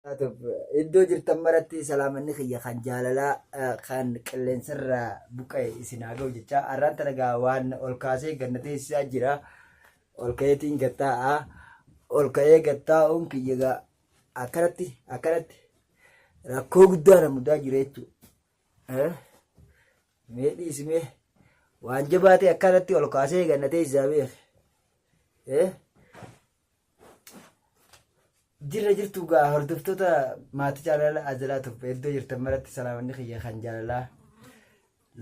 Taatuuf iddoo jirtan maratti salaamanni kiyya kan jaalalaa eh, kan qilleensarra buqqa'e isin haa ga'u jecha har'aan tana gaa waan ol kaasee ganna teessisaa jira ol ka'eetiin gattaa'a ol ka'ee gattaa'uun kiyya gaa akkanatti akkanatti rakkoo guddaa na mudaa jira jechuudha. Eh? Mee dhiisimee waan jabaatee akkanatti ol kaasee ganna teessisaa beeku. Eh? Jirra jirtu gaa hordoftoota maatii jaalala ajalaa turbe iddoo jirtan maratti salaamanni kiyya kan jaalalaa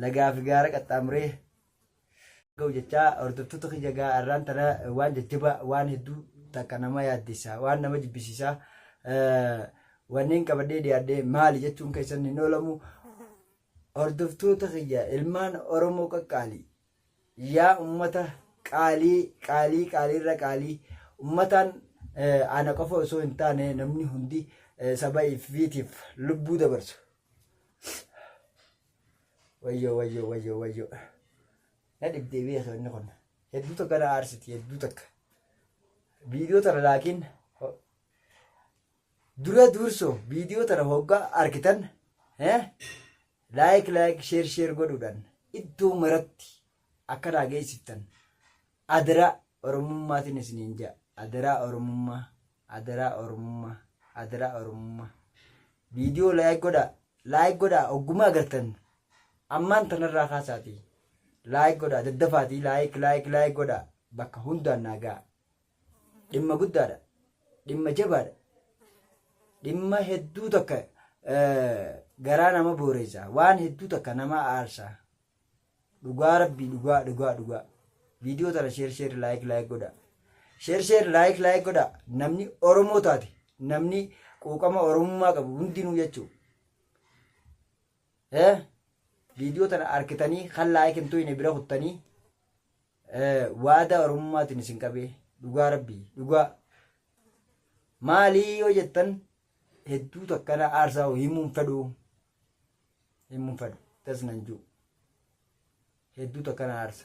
lagaa fi gaara qaxxaamuree ga'u jechaa hordoftoota kiyya gaa arraan tana waan jajjabaa waan hedduu takka nama yaaddessa waan nama jibbisiisaa eh, wanneen qabadhee dhiyaadhee maali jechuun keessan hin oolamu hordoftoota kiyya ilmaan Oromoo qaqqaali Yaa ummata qaalii qaalii qaaliirra qaalii ummataan ana qofa osoo hin taane namni hundi saba ifiitiif lubbuu dabarsu. Wayyoo wayyoo wayyoo wayyoo na dhibdee biyya sabni kun hedduu takka na aarsiti hedduu takka viidiyoo tana laakiin Dura duursoo viidiyoo tana hoggaa argitan eh, laayik laayik sheer sheer godhuudhaan iddoo maratti akka naa geessiftan adaraa oromummaatiin isiniin ja'a adaraa oromummaa adaraa oromummaa adaraa oromummaa viidiyoo laayik godhaa laayik godhaa oggumaa agartan ammaan tanarraa kaasaatii laayik godhaa daddafaatii laayik laayik laayik godhaa bakka hundaan naa ga'a dhimma guddaadha dhimma jabaadha dhimma hedduu takka garaa nama booreessa waan hedduu takka nama aarsa dhugaa rabbii dhugaa dhugaa dhugaa viidiyoo tana sheer sheer laayik laayik godha sheer sheer laayik laayik godha namni oromoo taate namni quuqama oromummaa qabu hundinuu jechuu viidiyoo tana arkitanii kan laayik hin tuyne bira kuttanii waadaa oromummaatiin isin qabee dhugaa rabbii dhugaa maalii yoo jettan hedduu takkana aarsaa hoo himuun fedhu himuun fedhu tas nan jiru hedduu takkana aarsa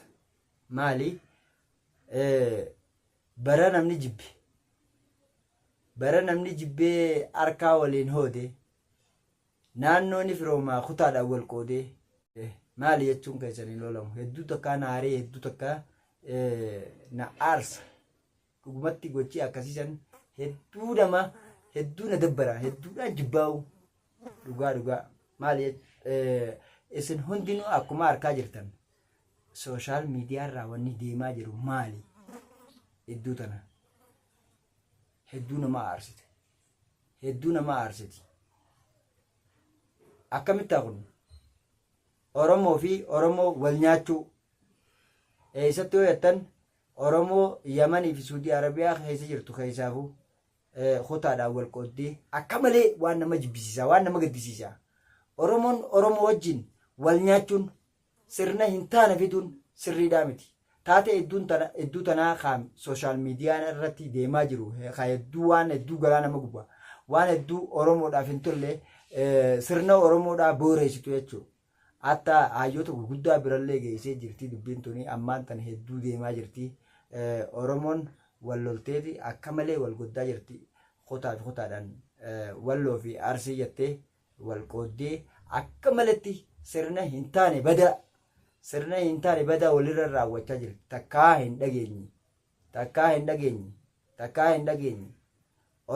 maalii bara namni jibbe bara namni jibbee harkaa waliin hoode Naannoo ni firoomaa kutaadhaan wal qoodee maali jechuun keessan hin oolamu. Hedduu takkaa na aaree hedduu takkaa na aarsa. Dhugumatti gochii akkasiisan hedduu nama hedduu na dabbara hedduudhaan jibbaa'u dhugaa dhugaa maali isin hundinuu akkuma harkaa jirtan sooshaal miidiyaarraa wanni deemaa jiru maali hedduu tana hedduu nama aarsite. hedduu nama aarsiti. Akkamittaa kun? Oromoo fi Oromoo wal nyaachuu. Eessatti yoo jettan Oromoo Yamanii fi Suudii Arabiyaa keessa jirtu keessaafu kutaadhaan wal qooddee akka malee waan nama jibbisiisaa waan nama gaddisiisaa. Oromoon Oromoo wajjin wal nyaachuun sirna hin taane fiduun sirriidhaa miti. Taatee hedduun tana hedduu tanaa kaan sooshaal miidiyaan irratti deemaa jiru haa hedduu waan hedduu garaa nama guba. Waan hedduu Oromoodhaaf hin tolle sirna Oromoodhaa booreessitu jechuudha. Hatta hayyoota gurguddaa birallee geessee jirti dubbiin tuni ammaan tana hedduu deemaa jirti. Oromoon wal lolteeti akka malee wal goddaa jirti. Kotaa fi kotaadhaan walloo fi arsii jettee walqooddee akka malatti sirna hin taane badaa sirna hin taane badaa walirra raawwachaa jirti takkaa hin dhageenye takkaa hin dhageenye takkaa hin dhageenye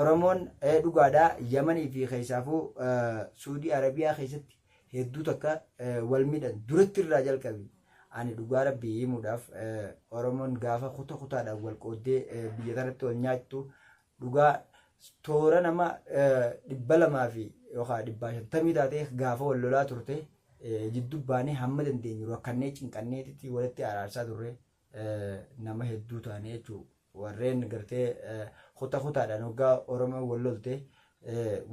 oromoon ee dhugaadhaa yamanii fi keessaafuu suudii arabiyaa keessatti hedduu takka wal miidhan duratti irraa jalqabe ani dhugaa rabbii himuudhaaf oromoon gaafa kuta kutaadhaan wal qooddee biyya kanatti wal nyaattu dhugaa toora nama dhibba lamaa fi yookaan dhibbaa shantamii taatee gaafa wal lolaa turte jiddu baanee hamma dandeenyu rakkannee cinqanneetitti walitti araarsaa turre nama hedduu taane jechuudha. Warreen gartee kuta kutaadhaan hoggaa Oromoo wal lolte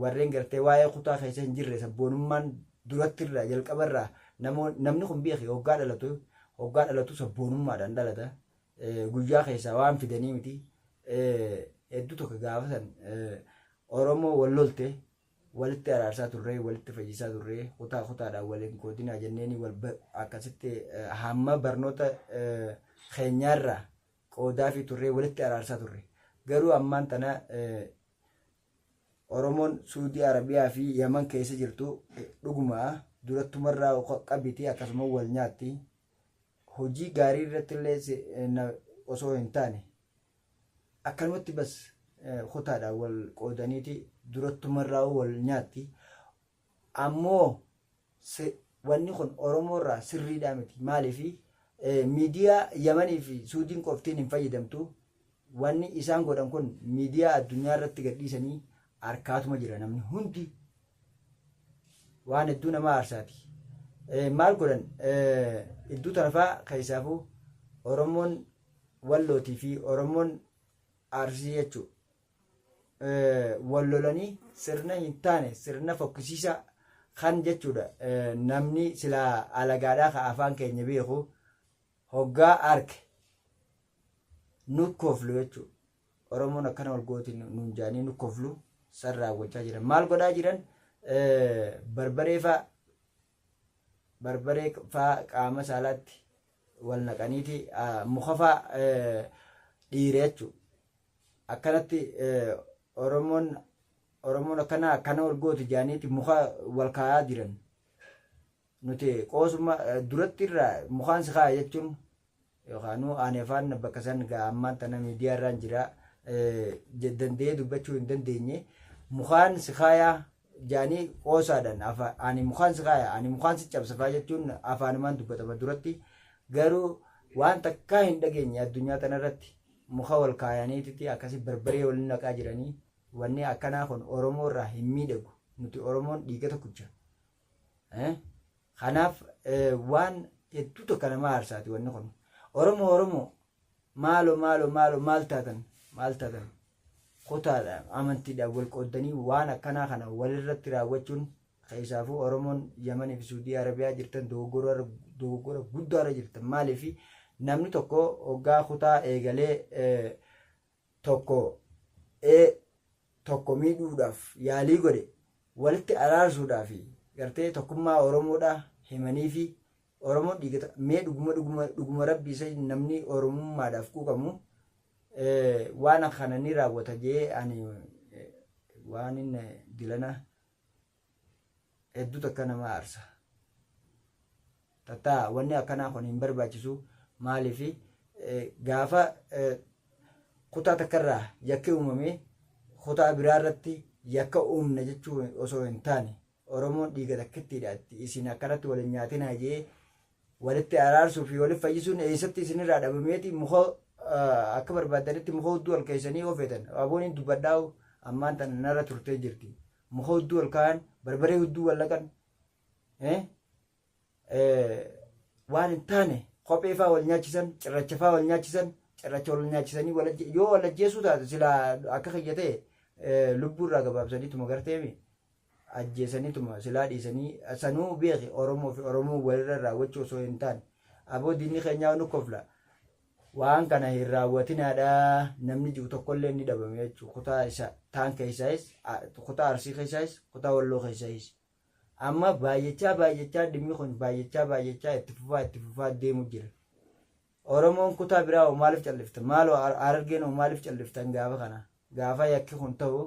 warreen gartee waa'ee kutaa keessa hin jirre sabboonummaan duratti irraa jalqaba irraa namni kun beeke hoggaa dhalatu hoggaa dhalatu sabboonummaadhaan dhalata guyyaa keessaa waan fidanii miti hedduu tokko gaafa san Oromoo wal lolte walitti araarsaa turree walitti fayyisaa turree kutaa kutaadhaan waliin koodinaa jenneenii wal akkasitti hamma barnoota keenyaarraa qoodaa fi turree walitti araarsaa turre garuu ammaan tana Oromoon suudii arabiyaa fi yaman keessa jirtu dhuguma durattumarraa qabiti akkasuma wal nyaatti hojii gaarii irratti illee osoo hin taane akkanumatti bas kutaadhaan wal qoodaniiti durattumarraa wal nyaatti ammoo si wanni kun Oromoo irraa sirriidhaa miti maaliifi miidiyaa Yamanii fi Suudiin qoftiin hin fayyadamtu wanni isaan godhan kun miidiyaa addunyaa irratti gadhiisanii arkaatuma jira namni hundi waan hedduu nama aarsaati maal godhan iddoo tanafaa keessaafuu Oromoon wallootii fi Oromoon aarsii jechuudha. wal lolanii sirna hin taane sirna fokkisiisaa kan jechuudha namni silaa alagaadhaa ka afaan keenya beeku hoggaa arke nukkooflu jechuudha. Oromoon akkana wal gooti nuun jaanii nukkooflu san raawwachaa jiran. Maal godhaa jiran barbaree faa barbaree faa qaama saalaatti wal naqaniiti muka faa dhiire jechu akkanatti oromoon oromoon akkana akkana wal gooti jaaniiti muka wal kaayaa jiran nuti qoosuma duratti irraa mukaan si kaaya jechuun yookaanuu aanefaan bakka san gaa ammaan tana miidiyaa irraan jira danda'ee dubbachuu hin dandeenye mukaan si kaayaa jaanii qoosaadhaan afa- ani mukaan si kaaya ani mukaan si cabsa faa jechuun afaanumaan dubbatama duratti garuu waan takkaa hin dhageenye addunyaa tanarratti muka wal kaayaniititi akkasi barbaree wal naqaa jiranii wanni akkanaa kun oromoo irraa hin miidhagu nuti oromoon dhiiga tokkicha Kanaaf waan hedduu tokko nama aarsaati wanni kun. Oromoo Oromoo maalo maalo maalo maal taatan maal taatan kutaadhaan amantiidhaan wal qooddanii waan akkanaa kana walirratti raawwachuun keessaafuu Oromoon Yamanii fi Suudii Arabiyaa jirtan dogoggora guddaarra jirtan maaliif namni tokko hoggaa kutaa eegalee tokko e tokko miidhuudhaaf yaalii godhe walitti araarsuudhaa fi gartee tokkummaa Oromoodhaa himanii fi Oromoon dhiigata mee dhuguma dhuguma dhuguma rabbi isa namni Oromummaadhaaf quuqamu waan kana ni raawwata jee ani waan inni dilana hedduu takka nama aarsa tattaa wanni akkanaa kun hin barbaachisu maaliif gaafa kutaa takkarraa yakki uumamee kutaa biraa irratti yakka uumna jechuu osoo hin taane oromoon dhiiga takkittiidha itti isin akkanatti wal hin nyaatinaa jee walitti araarsuu fi walitti fayyisuun eessatti isinirraa dhabameeti muka akka barbaadanitti muka hudduu ol keessanii ofeetan abooniin dubbadhaa'u ammaan tana narra turtee jirti muka hudduu ol kaayan barbaree hudduu wal laqan eh, eh, waan hin taane kophee faa wal nyaachisan cirracha faa wal nyaachisan cirracha wal nyaachisanii wal ajje- yoo wal ajjeesuu taate sila akka kiyya ta'e eh, lubbuu irraa gabaabsaniituma garteemi ajjeesaniituma silaa dhiisanii sanuu beeki oromoo fi oromoo walirra raawwachuu osoo hin taane aboo diinni keenyaa nu kofla waan kana hin raawwatinaadha namni jiru tokkollee ni dhabame jechuudha kutaa isa taan keessaayis kutaa arsii keessaayis kutaa walloo keessaayis amma baay'achaa baay'achaa dhimmi kun baay'achaa baay'achaa itti fufaa itti fufaa deemu jira oromoon kutaa biraa hoo maaliif callifta maaloo harargeen hoo maaliif calliftan gaafa kana Gaafa yakki kun ta'u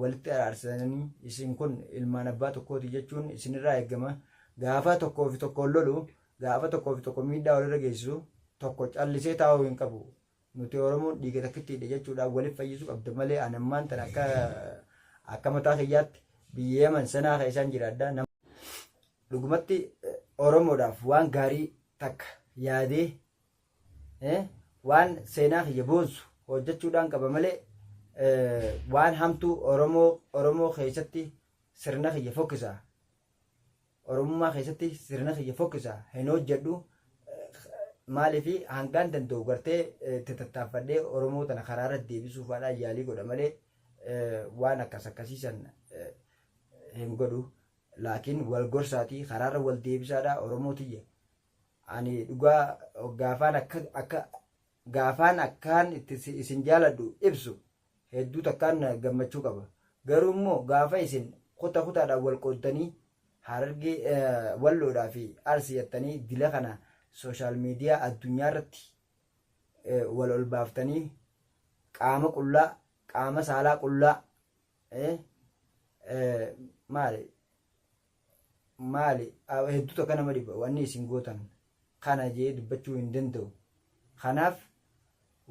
walitti araarsananii isin kun ilmaan abbaa tokkooti jechuun isinirraa eegama. Gaafa tokkoo fi tokkoon lolu, gaafa tokkoo fi tokko miidhaa walirra geessisu tokko callisee taa'uu hin qabu. Nuti Oromoon dhiiga takkittiidha jechuudhaan waliif fayyisuu qabda malee an ammaan tan akka akka mataa kiyyaatti biyya Yaman sanaa keessaan jiraadha. Nama dhugumatti Oromoodhaaf waan gaarii takka yaadee waan seenaa kiyya boonsu hojjechuudhaan qaba malee waan hamtuu Oromoo Oromoo keessatti sirna kiyya fokkisa. Oromummaa keessatti sirna kiyya fokkisa hin hojjedhu maaliif hangaan danda'u gartee itti tattaaffadhee Oromoo tana karaa irra deebisuuf haadha yaalii godha malee waan akkas akkasiisan hin godhu. Laakiin wal gorsaatii karaarra wal deebisaadha Oromoo tiyya. ani dhugaa gaafaan akka akka gaafaan akkaan itti si- isin jaaladhu ibsu hedduu takkaan na gammachuu qaba garuu immoo gaafa isin kuta kutaadhaan wal qooddanii harargee eh, walloodhaa fi arsii jettanii dila kana sooshaal miidiyaa addunyaa irratti eh, wal ol baaftanii qaama qullaa qaama saalaa qullaa eh, eh, maali maali hedduu takka nama dhiba wanni isin gootan kana jee dubbachuu hin danda'u kanaaf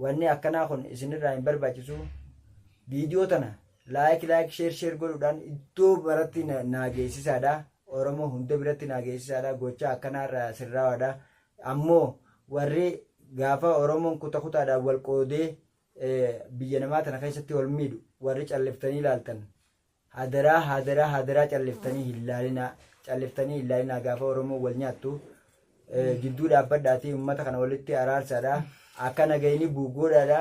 wanni akkanaa kun isinirraa hin barbaachisu viidiyoo tana laayik laayik sheer sheer godhuudhaan iddoo baratti na- naa geessisaadha oromoo hunda biratti naa geessisaadha gochaa akkanaarraa sirraawaadha ammoo warri gaafa oromoon kuta kutaadhaan wal qoodee eh, biyya namaa tana keessatti wal miidhu warri calliftanii ilaaltan Hadaraa hadaraa hadaraa calliftanii hin laalinaa calliftanii hin laalinaa gaafa Oromoon wal nyaattu eh, gidduu dhaabbadhaatii uummata kana walitti araarsaadha akka nagayni buugoodhaadha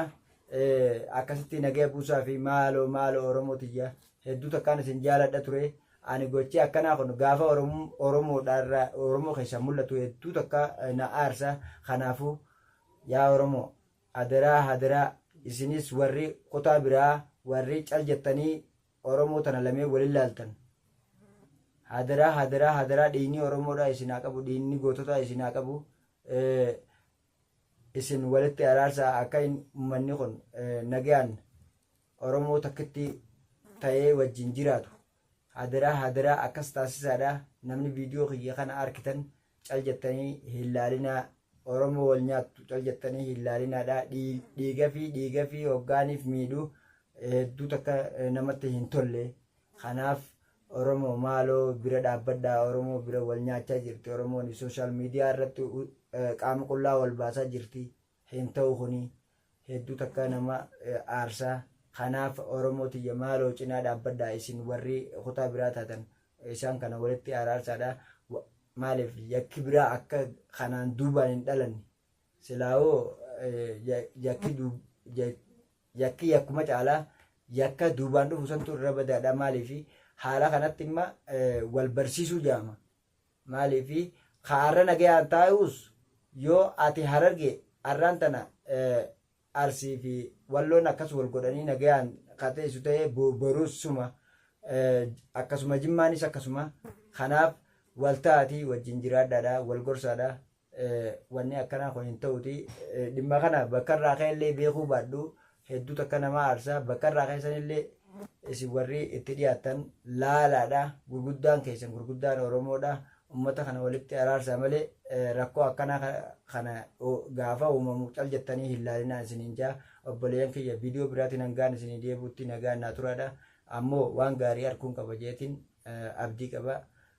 eh, akkasitti nagaya buusaa fi maaloo maaloo Oromoo tiyya hedduu takkaan isin jaaladha ture ani gochee akkanaa kun gaafa Oromoo Oromoodhaarraa Oromoo keessaa mul'atu hedduu takka eh, na aarsa kanaafuu yaa Oromoo Adaraa hadaraa isinis warri kutaa biraa warri cal jettanii oromoo tana lameen wal ilaaltan hadaraa hadaraa hadaraa dhiignii oromoodhaa isin haa qabu dhiignii goototaa isin haa qabu isin walitti araarsaa akka hin ummanni kun nagayaan oromoo takkitti ta'ee wajjin jiraatu Hadaraa hadaraa akkas taasisaadha namni video kiyya kana arkitan cal jettanii hin laalinaa Oromoo wal nyaattu cal jettanii hin laalinaadha dhiigafii dhiigafii hoggaaniif miidhu hedduu takka namatti hin tolle kanaaf Oromoo maaloo bira dhaabbadhaa Oromoo bira wal nyaachaa jirti Oromoon sooshaal miidiyaa irratti qaama qullaa wal baasaa jirti hin ta'u kuni hedduu takkaa nama aarsa kanaaf oromoo tiyya maaloo cinaa dhaabbadhaa isin warri kutaa biraa taatan isaan kana walitti araarsaadha maaliif yakki biraa akka kanaan duubaan hin dhalanne silaawoo yakki yakki yakkuma caalaa yakka duubaan dhufu santu irra badaadha maaliif haala kanatti imma wal barsiisuu jaama Maaliif ka arra nagayaan taa'uus yoo ati Hararge arraan tana Arsii fi Walloon akkas wal godhanii nagayaan ka teessu ta'e boruus suma akkasuma Jimmaanis akkasuma kanaaf wal ta'aatii wajjin jiraadhaadha wal gorsaadha. wanni akkanaa kun hin ta'uti dhimma kana bakka irraa ka'e illee beekuu baadhu hedduu takka namaa aarsa bakka irraa ka'e san illee isin warri itti dhiyaattan laalaadha gurguddaan keessan gurguddaan oromoodha ummata kana walitti araarsaa malee rakkoo akkanaa kana gaafa uumamu cal jettanii hin laalinaa isiniin jaa obboleeyyan kiyya viidiyoo biraatiin hangaan isinii deebuutti nagaan naa turaadha ammoo waan gaarii arguun qaba jeetiin abdii qaba